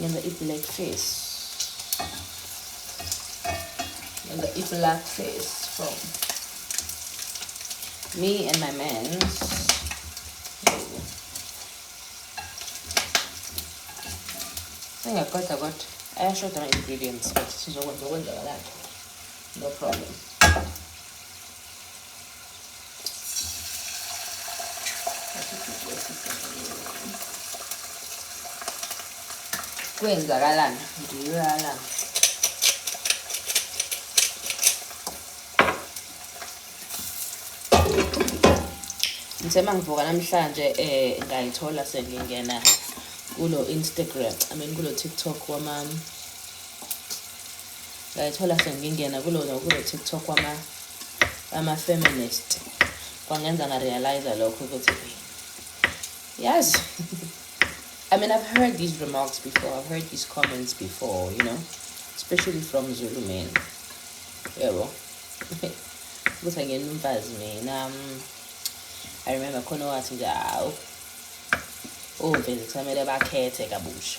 ngenza i-black face ngenza i-black face from me and my man engakoda kodwa ayashoda ama-ingredients but sizokwenza okwenzakalakho no problem kwenzakalani ndiyoyalana ngisema ngivuka namhlanje um eh, ngayithola sengingena kulo instagram i mean kulo tiktok wamam ngayithola sengingena kulona kulo TikTok wama ama feminist kwangenza nga realize lokho ukuthi yes I mean I've heard these remarks before I've heard these comments before you know especially from Zulu men yebo ukuthi angena umfazi mina mm. I remember khona wathi nje awu ovezi kusamele bakhethe kabusha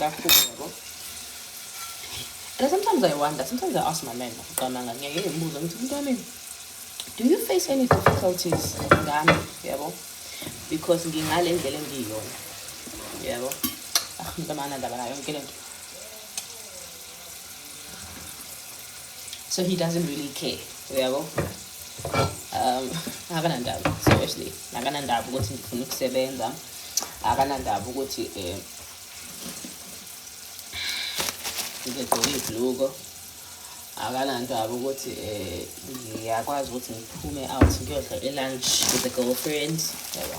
Bakhulu yabo. And sometimes I wonder, sometimes I ask my man, ngicabanga ngeke ngibuze ngithi umuntu wami do you face any difficulties ngami yabo? Because ngingale ndlela engiyiyona. Yabo. Ah, mntamana ndaba nayo yonke lento. so he doesn't really care uyabo um akanandaba seriously akanandaba ukuthi ngifuna ukusebenza akanandaba ukuthi um ngigqoke ibhluko akanandaba ukuthi um ngiyakwazi ukuthi ngiphume out ngiyodla i-lunch with the girlfriend yabo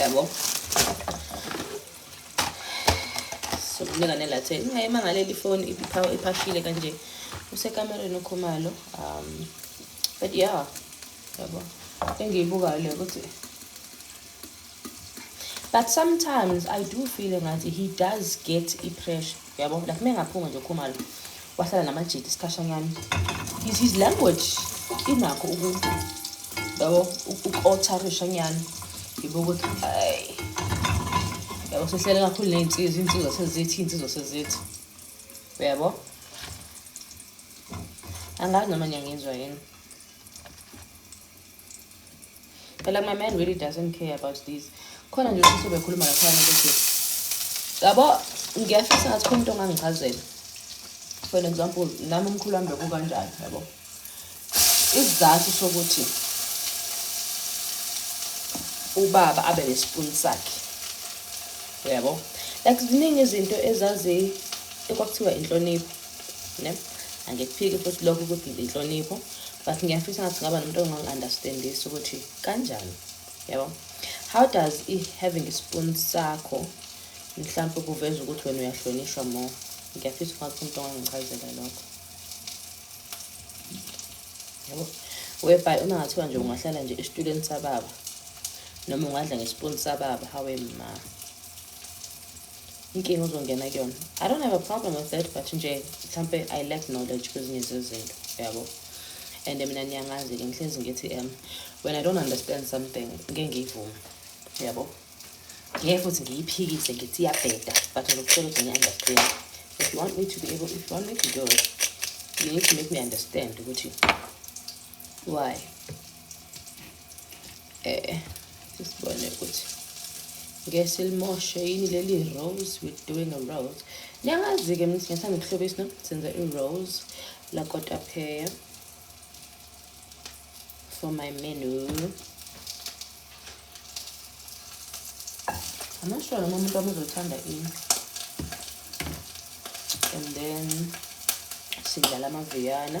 yabo sokunika nelathe ingayimangaleli ifoni iphashile kanje usekamereni ukhumalo um but yeah yabo engiyibukayo le ukuthi but sometimes i do feel engathi he does get i-pressure uyabo like uma engaphuma nje ukhumalo wahlala namajidi isikhashanyana is his language inakho yabo uku-otarisha nyana yibo ukuthi hayi yabo sehlele kakhulu ney'nsizwa iy'nsizwa sezithi iy'nsizwa sezithi uyabo angazi noma niyangizwa yini But like my man really doesn't care about these. Khona nje sisi bekhuluma lapha ukuthi yabo ngiyafisa ngathi khona into ongangichazela. For example, nami umkhulu wami bekukanjani yabo. Isizathu sokuthi ubaba abe nespoon sakhe. Yabo. Like ziningi izinto ezazi ekwakuthiwa inhlonipho. ne angikuphiki futhi lokho ukuthi inhlonipho but ngiyafisa ngathi ngaba nomuntu ongangi-understandisi ukuthi kanjani yabo how does i-having ispoon sakho mhlawumpe kuveza ukuthi wena uyahlonishwa more ngiyafisa ngathi umuntu ongangichazela lokho yabo whereby uma ngathiwa nje ungahlala nje esitulweni sababa noma ungadla ngespoon sababa hawe ma inkinga uzongena kuyona i don't have a problem with that but nje mhlampe i lack knowledge kwezinye zezinto yabo and mina niyangazi-ke ngihlezi ngithi um when i don't understand something ngeke ngiyivume yabo ngeke futhi ngiyiphikise ngithi iyabheda but ngizokutshela ukuthi ngiyi-understand if you want me to be able if you want me to do it you need to make me understand ukuthi why eh sisibone ukuthi ngeke silimoshe yini leli rose we're doing a rose niyangazi-ke mina singathanda ukuhlobisa no senza i-rose lakotapheya for my menu amasho noma umuntu wami uzothanda ini and then sidlala amaviyana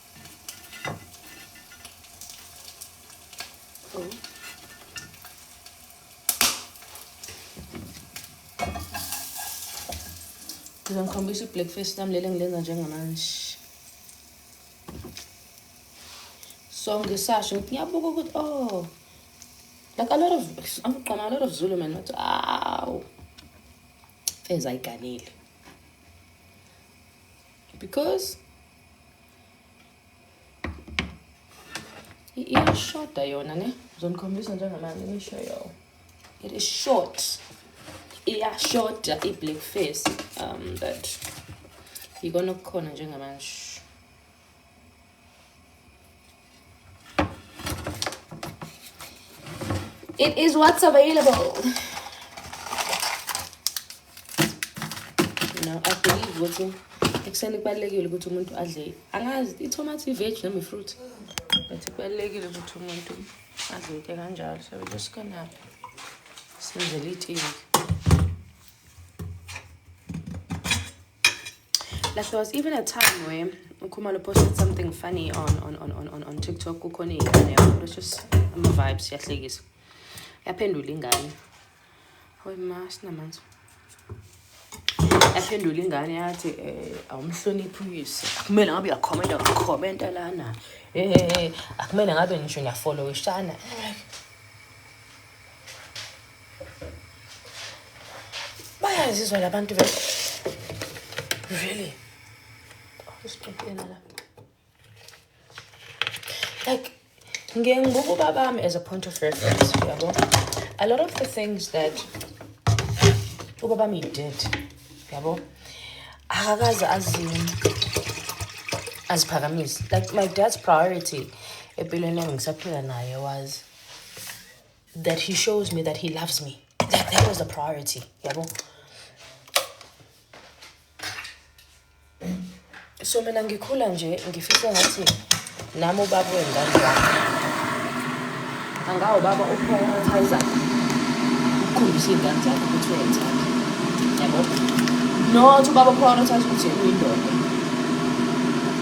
Ngizongikhombisa i-breakfast lami leli engilenza njengamanje so ngisasho ngithi ngiyabuka ukuthi oh like a lot of amgqoma a lot of zulu man bathi awu feza ayiganile because iyashoda yona ne zonikhombisa njengamanje ngisho yo it is short iyashoda i-black face um but yikona okukhona njengamanje It is what's available. Now I believe ukuthi ekuseni kubalulekile ukuthi umuntu adle angazi itomato i-veg noma i-fruit but kubalulekile ukuthi umuntu adle into kanjalo so we're just gonna senzela itiye like there was even a time where Nkumalo posted something funny on on on on on, on TikTok kukhona ingane it was just ama vibes yahlekisa yaphendula ingane hoy ma sinamanzi yaphendula ingane yathi eh awumhloniphi uyise akumele ngabe uyakhomenta uyakhomenta lana eh akumele ngabe ngisho ngiyafollowishana bayazizwa labantu be really isixoxela la like ngiye ngibuka ubabami as a point of reference yabo a lot of the things that ubabami did yabo akakaze azini aziphakamise like my dad's priority empilweni engisaphila naye was that he shows me that he loves me that, that was the priority yabo so mina ngikhula nje ngifisa ngathi nami ubaba wengane yami angawo baba uprioritizer ukukhombisa iy'ngane zakho ukuthi uyayithanda yabo not ubaba uprioritize ukuthi uyindoda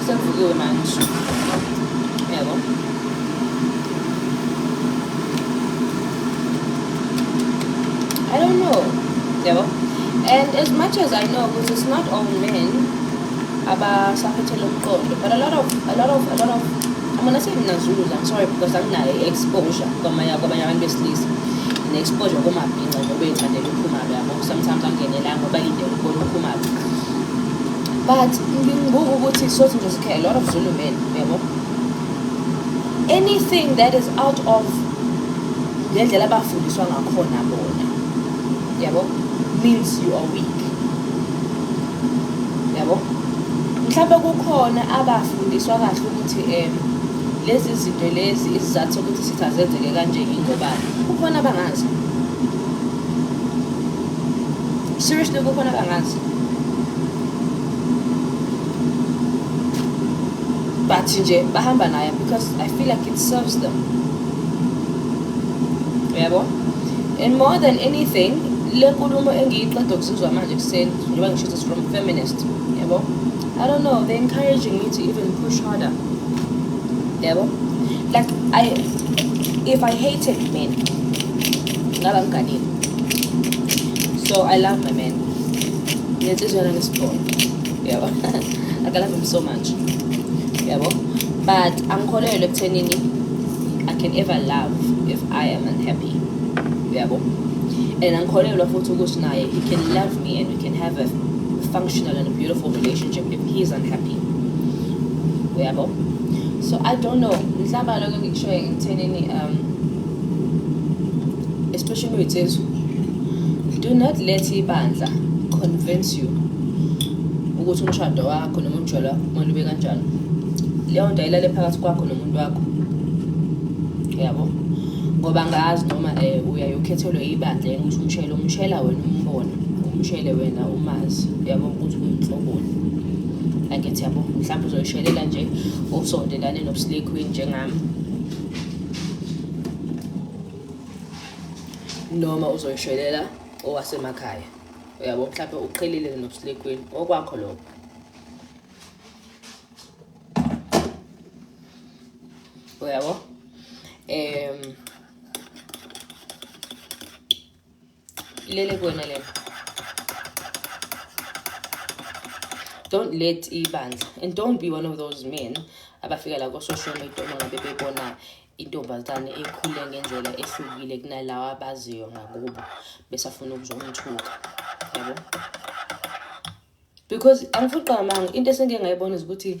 Usevukiwe manje. Yebo. I don't know. Yebo. And as much as I know, because it's not all men abasaphethe lo mqondo, but a lot of a lot of a lot of I'm gonna say mina Zulu, I'm sorry because I'm not exposure kwamanye kwamanye abantu besilisa. Ne exposure komabhinca ngoba iyithandela uphuma yabo. Sometimes angenelanga ngoba ilindele ukubona uphuma. but ngibuka ukuthi sothi nje sikhe a lot of zulu men yabo anything that is out of ngendlela abafundiswa ngakhona bona yabo means you are weak yabo mhlawumbe kukhona abafundiswa kahle ukuthi um lezi zinto lezi izizathu sokuthi sithi azenzeke kanje yingobani kukhona abangazi Seriously, go for another lance. But nje bahamba naye because I feel like it serves them. Yabo? And more than anything, le nkulumo engiyiqeda ukuzizwa manje kuseni njengoba ngisho ukuthi from feminist. Yabo? I don't know, they're encouraging me to even push harder. Yabo? Like I if I hated men ngaba mganile so i love my man ngenhliziyo yona ngesibhono yabo i love him so much yabo but angikholelwe ekuthenini i can ever love if i am unhappy yabo and angikholelwa futhi ukuthi naye he can love me and we can have a functional and a beautiful relationship if he is unhappy uyabo so i don't know mhlawumbe lokho ngikushoye ngithenini um especially wethethu do not let ibandla convince you ukuthi umshado wakho noma umjolo wakho kumele ube kanjani leyo nto ayilale phakathi kwakho nomuntu wakho yabo ngoba ngazi noma um eh, uyaye ukhethelwe ibandla yena ukuthi umshele umshela wena umbona umshele wena umazi yabo ukuthi uyinhloboni angithi yabo mhlawumbe uzoyishelela nje usondelane nobusile queen njengami noma uzoyishelela owasemakhaya uyabo mhlawumbe uqhelile nobuslekwini okwakho lokho uyabo um ilele kuwena lena don't let ibandla and don't be one of those men abafika la ko-social media uma ngabe bebona intombazane ekhule ngendlela ehlukile kunalawa abaziyo ngakubo besafuna ukuzomthuka yabo because angifuni qamanga into esengike ngayibona ukuthi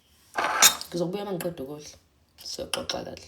ngizokubuya uma ngiqeda ukudla siyoxoxa kahle